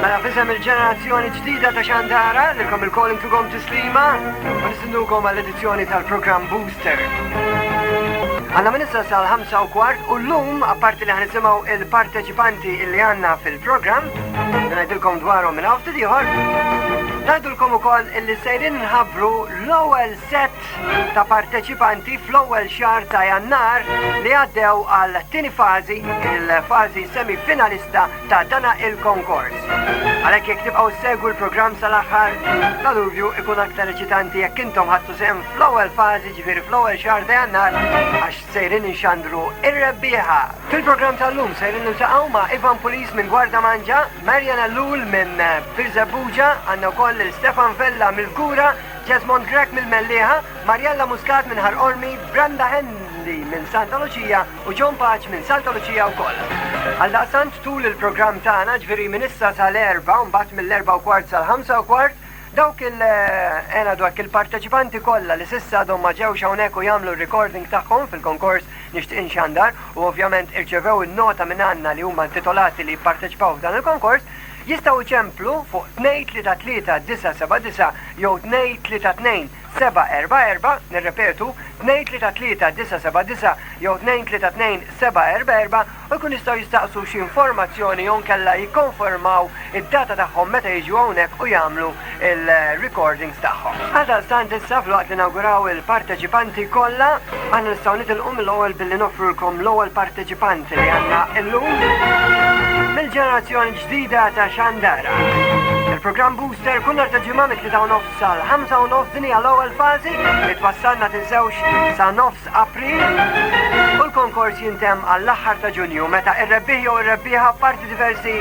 Mela f'isem il-ġenerazzjoni ġdida ta' Xandara, nilkom il-kol intukom tislima, u nistennukom għall-edizzjoni tal-programm Booster. Għanna minn issa sal-5 u kwart u l-lum, apparti li ħanisimaw il-parteċipanti illi għanna fil-programm, ngħidilkom dwarhom minn għafti diħor, Najdulkom u koll illi sejrin nħabru l-ewel set ta' parteċipanti fl-ewel xar ta' jannar li għaddew għal tini fazi, il-fazi semifinalista ta' dana il-konkors. Għalhekk jekk tibqgħu ssegwu l-programm sal-aħħar, l-aluvju ikun aktar eċitanti jekk intom ħadtu sehem fl-ewwel fażi ġifieri fl-ewwel xahar ta' Jannar għax sejrin inxandru ir-rebbieħa. Fil-programm tal-lum sejrin niltaqgħu ma' Ivan Pulis minn Gwarda Manġa, Marian Ellul minn Birżebbuġa, għandna wkoll lil Stefan Vella mill-Kura, Jesmond Grech mill-Mellieħa, Marjella Muscat minn Ħal Qormi, Brenda Hendy minn Santa Luċija, u John Paċ minn Santa Lucia wkoll. Għaldaqstant tul il-programm tagħna ġviri minn issa sal-erba' u mbagħad mill-erba' u kwart sal-ħamsa u kwart dawk il-ena eh, dwak il-parteċipanti kollha li sissa għadhom ma ġewx hawnhekk u jagħmlu recording tagħhom fil-konkors nixtieq inxandar u ovvjament irċevew in-nota minn għandna li huma intitolati li jipparteċipaw f'dan il-konkors jistgħu ċemplu fuq 2 3 3 9 7 9 jew 2 3 2 744, nirrepetu, 233 979 jew 232 744 u jkun jistgħu jistaqsu xi informazzjoni jew nkella jikkonfermaw id-data tagħhom meta jiġu hawnhekk u jagħmlu il-recordings tagħhom. Għaldaqstant issa fl-waqt li nawguraw il-parteċipanti kollha, aħna nistgħu nitilqu mill-ewwel billi noffrulkom l-ewwel parteċipant li għandna illum mill-ġenerazzjoni ġdida ta' Xandara. Il-programm Booster kull nhar ta' ġimgħa mit-tlieta u nofs Sal-ħamsa u nofs din hija l-ewwel fażi li twassal ma tinsewx sa nofs April u l-konkors jintemm għall-aħħar ta' Ġunju meta ir-rebbieħ jew ir-rebbieħa parti diversi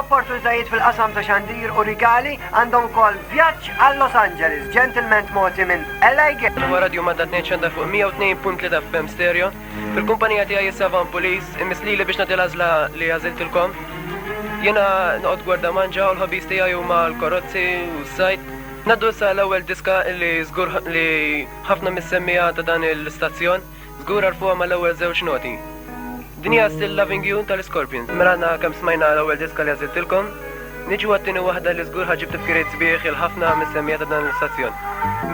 opportunitajiet fil-qasam ta' xandir u rigali għandhom ukoll vjaġġ għal Los Angeles ġentilment mogħti minn Eli Gil. Huwa radju Madda 2 xandar fuq 102.3 FM stereo. Il-kumpanija tiegħi hi Savan Police, imiss lili biex nagħti l-għażla li għażiltilkom. Jiena noqgħod gwarda manġa u l-ħobbies tiegħi huma l-korozzi u s-sajd. Ngħaddu issa għall-ewwel diska li żgur li ħafna mis-semmiegħa ta' dan l-istazzjon żgur għarfuha mal-ewwel żewġ noti. Din hija Still Loving You tal-Scorpions. Mela għadna kemm smajna l-ewwel diska li għażiltilkom, niġu għat-tieni waħda li żgur ħaġib tifkiriet sbieħ il-ħafna mis-semmiegħa ta' dan l-istazzjon.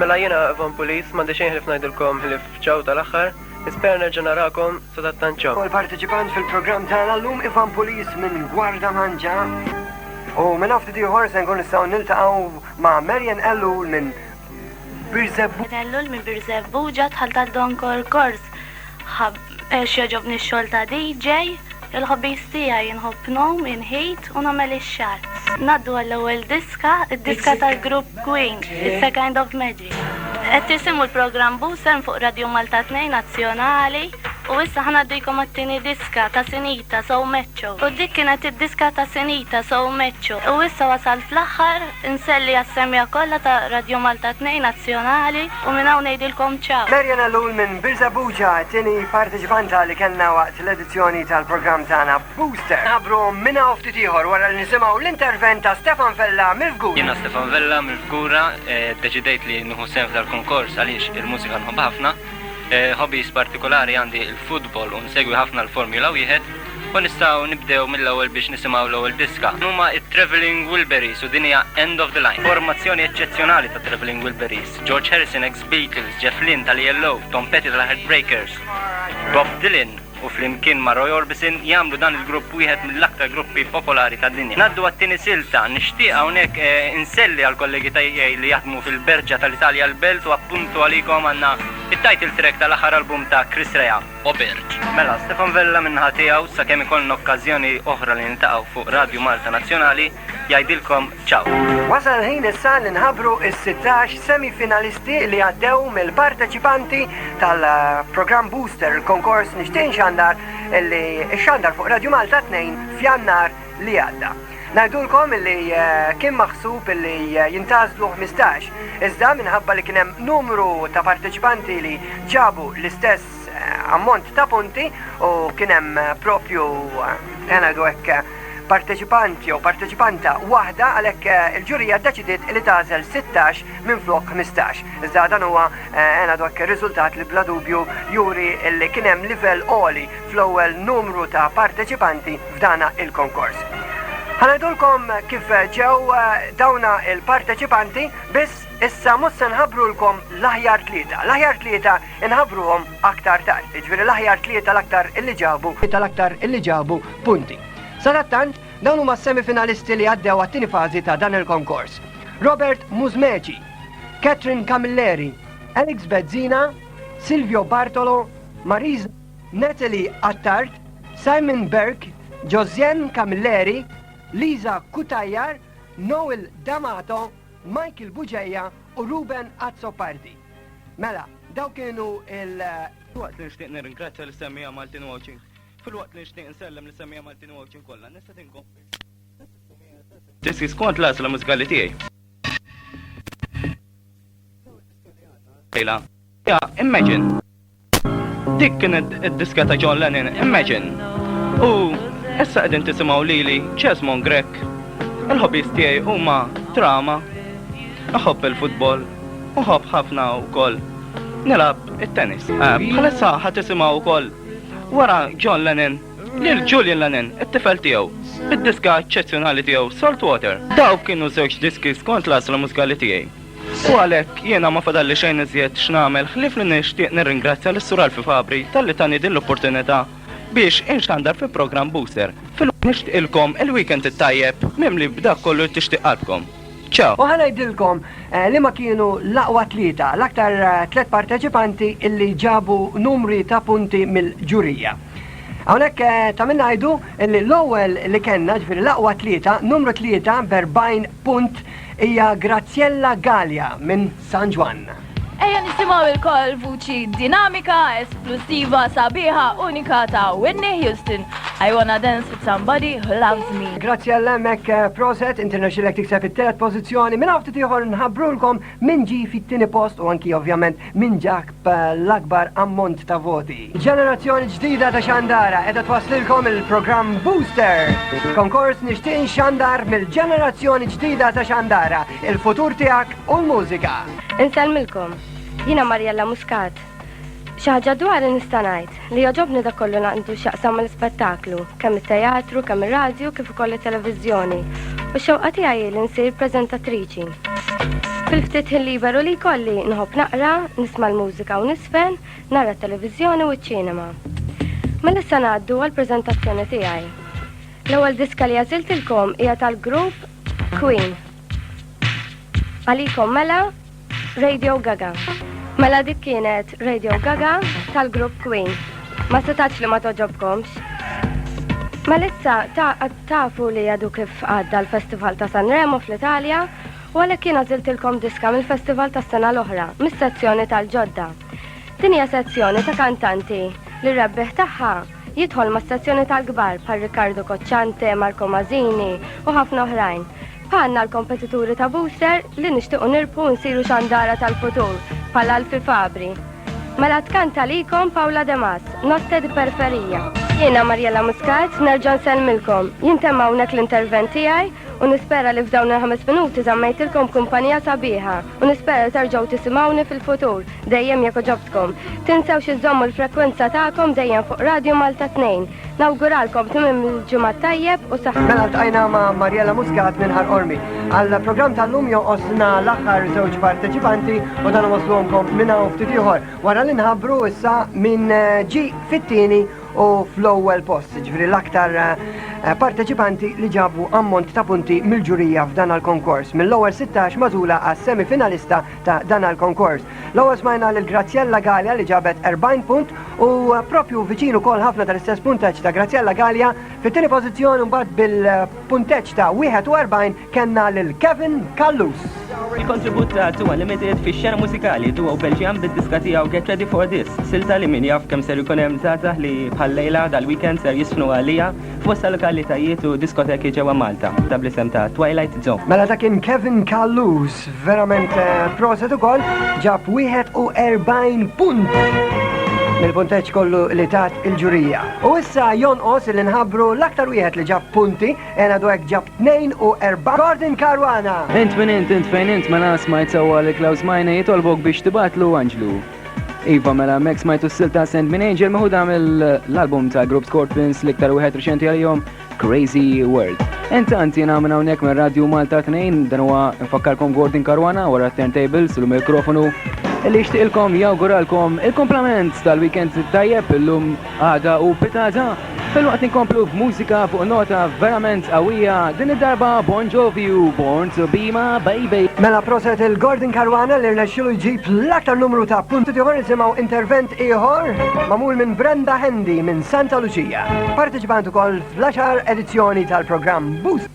Mela jiena Van Police m'għandi xejn ħlief ngħidilkom ħlief Ciao tal-aħħar, nispera nerġa' narakom sadattant ciao. Ukoll parteċipant fil-programm tagħna llum Ivan Pulis minn Gwarda Manġa. U minn ftit ieħor se nkun nistgħu niltaqgħu ma' Marian Ellul minn Birzebbu. Ellul minn Birzebbu ġat ħaltat donkor kors. Ħab eh, xjoġobni x-xogħol ta' DJ Il-hobbies tiegħi inħobb ngħum, inħit u nagħmel ix-xagħar. Ngħaddu għall-ewwel diska, id-diska tal-grupp Queen, It's a Kind of Magic. Qed tisimgħu l-programm Busem fuq Radio Malta 2 Nazzjonali u issa ħa ngħaddikom għat-tieni diska ta' Sinita So Meċċo. U dik kienet id-diska ta' Sinita So Meċċo. U issa wasalt fl-aħħar, inselli għas-semgħa kollha ta' Radio Malta 2 Nazzjonali u minn hawn ngħidilkom ciao. Marian Ellul minn Birżebbuġa, t-tieni parteċipanta li kellna waqt l-edizzjoni. Zzjoni tal-programm tagħna Booster. Nħabbru minn hawn ftit ieħor wara li nisimgħu l-intervent ta' Stefan Vella mill-Fgura. Jiena Stefan Vella mill-Fgura, eh, deċidejt li nieħu sehem f'dal-kunkors għaliex il-mużika nħobb ħafna. Eh, hobbies partikolari għandi il-futbol u nsegwi ħafna l-Formula wieħed u nistgħu nibdew mill-ewwel biex nisimgħu l-ewwel diska. Huma it-Traveling Wilburys u dinja End of the Line. Formazzjoni eċċezzjonali ta' Traveling Wilburys, George Harrison ex Beatles, Jeff Lynne tal-ELO, Tom Petty tal-Heartbreakers, Bob Dylan, u flimkien ma' Roy Orbison jagħmlu dan il-grupp wieħed mill-aktar gruppi popolari tad-dinja. Ngħaddu għat-tieni silta. Nixtieq hawnhekk inselli għall-kollegi tiegħi li jaħdmu fil-Berġa tal-Italja l-Belt u appuntu għalikom għandna t-title track tal-aħħar album ta' Chris Rea, O Berġ. Mela, Stefan Vella min-naħa tiegħu, sakemm ikollna okkażjoni oħra li niltaqgħu fuq Radju Malta Nazzjonali, jgħidilkom ċaw. Wasal il-ħin issa li nħabbru s-sittax semifinalisti li għaddew mill-parteċipanti tal-programm Booster, il-konkors nixtieq xandar li xandar fuq Radio Malta 2 f'jannar li għadda. Najdulkom li eh, kien maħsub li eh, jintazdu 15, iżda minħabba li kienem numru ta' parteċipanti li ġabu l-istess eh, ammont ta' punti u kienem propju għanadu ekk parteċipant jew parteċipanta waħda għalhekk eh, il-ġurija ddeċidiet li tagħżel 16 minflok 15. Iżda dan huwa eh, għena dak ir-riżultat li bla dubju juri li kien hemm livell għoli fl-ewwel numru ta' parteċipanti f'dana il-konkors. Ħanajdulkom kif ġew eh, dawna il-parteċipanti biss issa mhux se nħabrulkom l-aħjar tlieta. L-aħjar tlieta inħabruhom aktar tard. Jiġifieri l-aħjar tlieta l-aktar illi ġabu, tal-aktar illi ġabu punti. Sadattant, dawn huma s-semifinalisti li għaddew għat-tieni fażi ta' dan il-konkors. Robert Muzmeci, Catherine Camilleri, Alex Bezzina, Silvio Bartolo, Mariz Natalie Attard, Simon Berg, Josiane Camilleri, Lisa Kutajar, Noel D'Amato, Michael Buġeja u Ruben Azzopardi. Mela, daw kienu il- Waqt li nixtieq nirringrazzja l-istemmija Maltin Watching Filwaqt li nixtieq nsellem li semmija Maltin u Għawdxin kollha, nista' tinkom. Tisi skont l-għażla mużikali tiegħi. Lejla. Ja, imagine. Dik kienet id-diska ta' John Lennon, imagine. U issa qegħdin tisimgħu lili Chesmon Grek. Il-hobbies tiegħi huma drama, iħobb il-futbol, uħobb ħafna wkoll nilab it-tennis. Ehm, bħalissa ħat tisimaw ukoll Wara John Lennon, lil Julian Lennon, it-tifel tiegħu, bid-diska eċċezzjonali tiegħu Saltwater. Dawk kienu żewġ diski skont l-għażla mużikali tiegħi. U għalhekk jiena ma fadalli xejn iżjed x'nagħmel ħlief li nixtieq nirringrazzja lis-Sur Alfie Fabri talli tani din l-opportunità biex inxandar fi programm Booster. Filwaqt nixtieqilkom il-weekend it-tajjeb mimli b'dak kollu li tixtieq qalbkom. Ciao! U ħa ngħidilkom liema kienu l-aqwa tlieta, l-aktar tliet parteċipanti illi ġabu numri ta' punti mill-ġurija. Hawnhekk ta' min ngħidu illi l-ewwel li kellna, ġifieri l-aqwa tlieta, numru tlieta b'40 punt hija Graziella Galea minn San Ġwann. Ejja nisimgħu ilkoll vuċi dinamika, esplussiva, sabiħa, unika ta' Whitney Houston. I wanna dance with somebody who loves me. Grazzi għall-emmek eh, proset, internaxilek tikseb it-telet pozizjoni, minn għafti tiħor nħabrulkom minn ġi fit-tini post u anki ovvjament minn ġak bl-akbar ammont ta' voti. Ġenerazzjoni ġdida ta' xandara qiegħda twasslilkom il-programm Booster. Konkors nixtieq nxandar mill-ġenerazzjoni ġdida ta' xandara, il-futur tiegħek u l-mużika. Insellmilkom. Jiena Marjella Muscat. Xi ħaġa dwari nista' ngħid. Li jogħġobni dak kollu għandu x'jaqsam mal-ispettaklu, kemm it-teatru, kemm ir-radju kif ukoll it-televiżjoni, u x-xewqa tiegħi hi li nsir preżentatriċi. Fil-ftit ħin liberu li jkolli, nħobb naqra, nisma' l-mużika u niżfen, nara t-televiżjoni u ċ-ċinema. Mela issa ngħaddu għall-preżentazzjoni tiegħi. L-ewwel diska li għażiltilkom hija tal-grupp Queen. Għalikom mela Radio Gaga. Mela dik kienet Radio Gaga tal-grupp Queen. Ma setax li ma toġobkomx. Mela issa tafu li għadu kif għadda l-Festival ta' Sanremo fl-Italja u għalhekk kien għażiltilkom diska mill-Festival tas-sena l-oħra mis-sezzjoni tal-ġodda. Din hija sezzjoni ta' kantanti li rebbieħ tagħha Jidħol ma' stazzjoni tal-kbar bħal Riccardo Cocciante, Marco Masini u ħafna oħrajn. Bħalna l-kompetituri ta' Booster li nixtiequ nirbħu nsiru xandara tal-futur bħal Alfie Fabri. Mela tkanta likom Paula De Mas, Notte di Perferija. Jiena Marjella Muscat, nerġa' nsellmilkom. Jintemm hawnhekk l-intervent tiegħi u nispera li f'dawn il-ħames minuti żammejtilkom kumpanija sabiħa u nispera li terġgħu tisimgħuni fil-futur. Dejjem jekk oġobtkom. Tinsewx iżommu l-frekwenza tagħkom dejjem fuq Radio Malta 2. Nawguralkom tmiem il-ġimgħa tajjeb u saħħa. Mela ltqajna ma' Marjella Muscat minn Ħar Ormi. Għal programm tal-lum joqosna l-aħħar żewġ parteċipanti u dan waslhomkom minn hawn ftit ieħor. Wara li nħabbru issa minn eh, ġi fit-tieni u fl-ewwel post, ġifri l-aktar eh, parteċipanti li ġabu ammont ta' punti mill-ġurija f'dan għal-konkors mill-ewwel 16 mażula għas-semifinalista ta' dan għal konkors. L-ewwel smajna lil Graziella Gallia li ġabet 40 punt u propju viċin ukoll ħafna tal-istess punteġġ ta' Graziella Gallia fit-tieni pożizzjoni mbagħad bil-punteġġ ta' 41 kellna lil Kevin Kallus. Il-kontribut ta' Tua Limited fi xena mużikali duo Belġjan bid-diska tiegħu Get Ready for This, silta li min jaf kemm ser ikun hemm żgħażagħ li bħal lejla dal-weekend ser jisfnu għalija f'bosta lokalitajiet u diskoteki ġewwa Malta, ta' bl-isem ta' Twilight Zone. Mela dak kien Kevin Callus, verament eh, proset ukoll, ġab 41 punt mill-punteċ kollu li tat il-ġurija. U issa jonqos li nħabru l-aktar wieħed li ġab punti, ena dwek ġab 2 u 4. Gordon Karwana! Int minn int, int fejn int ma mela nasmajt sewa li Klaus Majna jitolbok biex tibatlu Anġlu. Iva mela Max smajtu s-sil ta' Send Min Angel meħuda mill-album ta' Group Scorpions l-iktar wieħed reċenti għalihom Crazy World. Intant jiena minn hawnhekk minn Radio Malta 2 dan huwa nfakkarkom Gordon Karwana wara turntables u l-mikrofonu li jixtieqilkom jawguralkom il-komplament tal-weekend tajjeb illum Għada u pitgħada, filwaqt li nkomplu b'mużika fuq nota verament qawwija, din id-darba Bon Jovi u Born to Be My Baby. Mela proset lil Gordon Caruana li rnexxielu jġib l-aktar numru ta' punti. Issa nisimgħu intervent ieħor magħmul minn Brenda Handy minn Santa Lucia. Parteċipant ukoll fl-għaxar edizzjoni tal-programm Boost.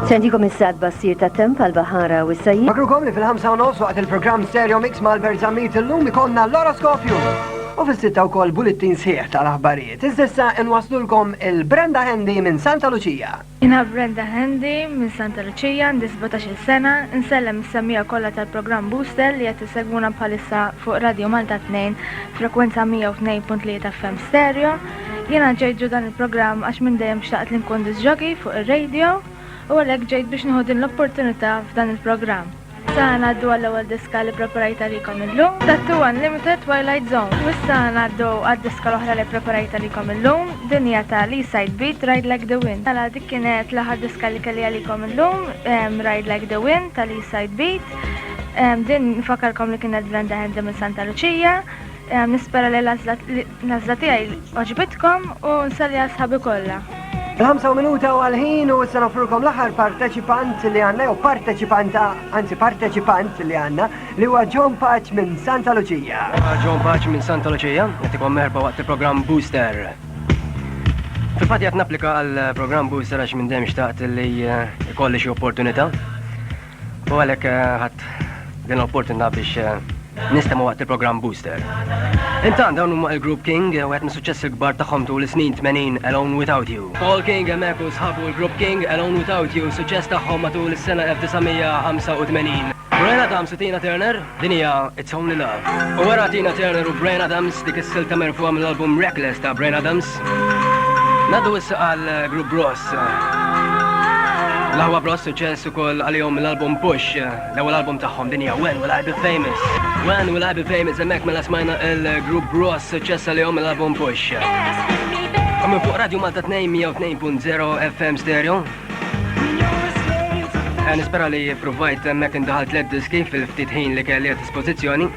Se ntikom issa tbassir tat-temp għall-baħara u s-sajjid. Nfakrukom li fil-ħamsa u nofs waqt il-programm Stereo Mix ma' Albert Zammit illum ikonna l-oroskopju. U fis-sitta wkoll bullettin sħiħ tal-aħbarijiet. Iżda issa inwasslulkom il-Brenda Handy minn Santa Luċija. Jiena Brenda Handy minn Santa Luċija, għandi sbatax-il sena, insellem is-semmiegħa kollha tal-programm Booster li qed isegwuna bħalissa fuq Radio Malta Tnejn, frekwenza 102.3 FM Stereo. Jiena ġejt ġo dan il-programm għax minn dejjem xtaqt li nkun disc jockey fuq ir-radio u għalhekk ġejt biex nieħu din l-opportunità f'dan il-programm. Issa ngħaddu għall-ewwel diska li ppreparajt għalikom illum, Tattoo Unlimited Twilight Zone. U issa ngħaddu għad-diska l-oħra li ppreparajt għalikom illum, din hija ta' Lee Side Beat, Ride Like The Wind. Mela dik kienet l-aħħar diska li kelli għalikom illum, Ride Like The Wind ta' Lee Side Beat. Din nfakkarkom li kienet Venda Handy minn Santa Luċija. Nispera li l-għażla tiegħi għoġbitkom u nsalli għal sħabi kollha. Il-ħamsa u minuta u għal-ħin u s-sena offrukom l-aħħar parteċipant li għanna, jew parteċipanta, anzi parteċipant li għanna, li huwa John Paċ minn Santa Lucia. John Paċ minn Santa Lucia, għatikom merba waqt il-program Booster. Fil-fat jgħat naplika għal-program Booster għax minn dem xtaqt li eh, ikolli xie opportunita. U għalhekk eh, ħadd din l-opportunità biex eh, nistema' waqt il-programm Booster. Intant dawn huma il-Group King eh, u qed mis-suċċess il-kbar tagħhom tul is-snin 80 Alone Without You. Paul King hemmhekk u sħabu l-Group King Alone Without You suċċess tagħhom matul is-sena 1985. Brian Adams u Tina Turner Din hija It's Only Love. U wara Tina Turner u Bryan Adams dik is-silta merfuha mill-album Reckless ta' Bryan Adams. Nadu issa għal Group Bros. L-aħwa Bros suċċess ukoll għalihom mill-album Push, l-ewwel album tagħhom din hija When Will I Be Famous. When Will I Be Famous hemmhekk mela smajna il-Group Bros suċċess għalihom mill-album Push. Għamil fuq Radio Malta 202.0 FM Stereo, Nispera li provajt hemmhekk indaħal tliet diski fil-ftit ħin li kelli għad dispożizzjoni.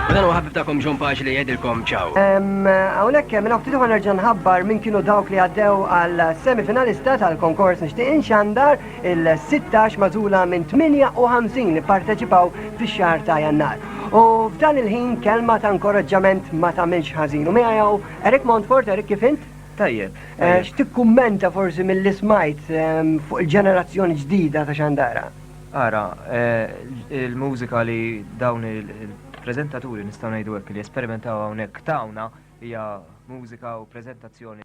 U dan huwa ħabib tagħkom John Paġ li jgħidilkom ċaw. Hawnhekk minn ftit ma nerġa' nħabbar minn kienu dawk li għaddew għal semifinalista tal-konkors nixtieq inxandar il-16 mażula minn 58 li parteċipaw fix-xahar ta' Jannar. U f'dan il-ħin kelma ta' inkoraġġament ma tagħmilx ħażin. U miegħu Eric Montfort, Eric kif int? Tajjeb. Eh, x'tikkummenta forsi mill-li smajt ehm, fuq il-ġenerazzjoni ġdida ta' xandara? Ara, eh, il-mużika li dawn il-prezentaturi nistgħu ngħidu hekk li esperimentaw hawnhekk tawna hija mużika u prezentazzjoni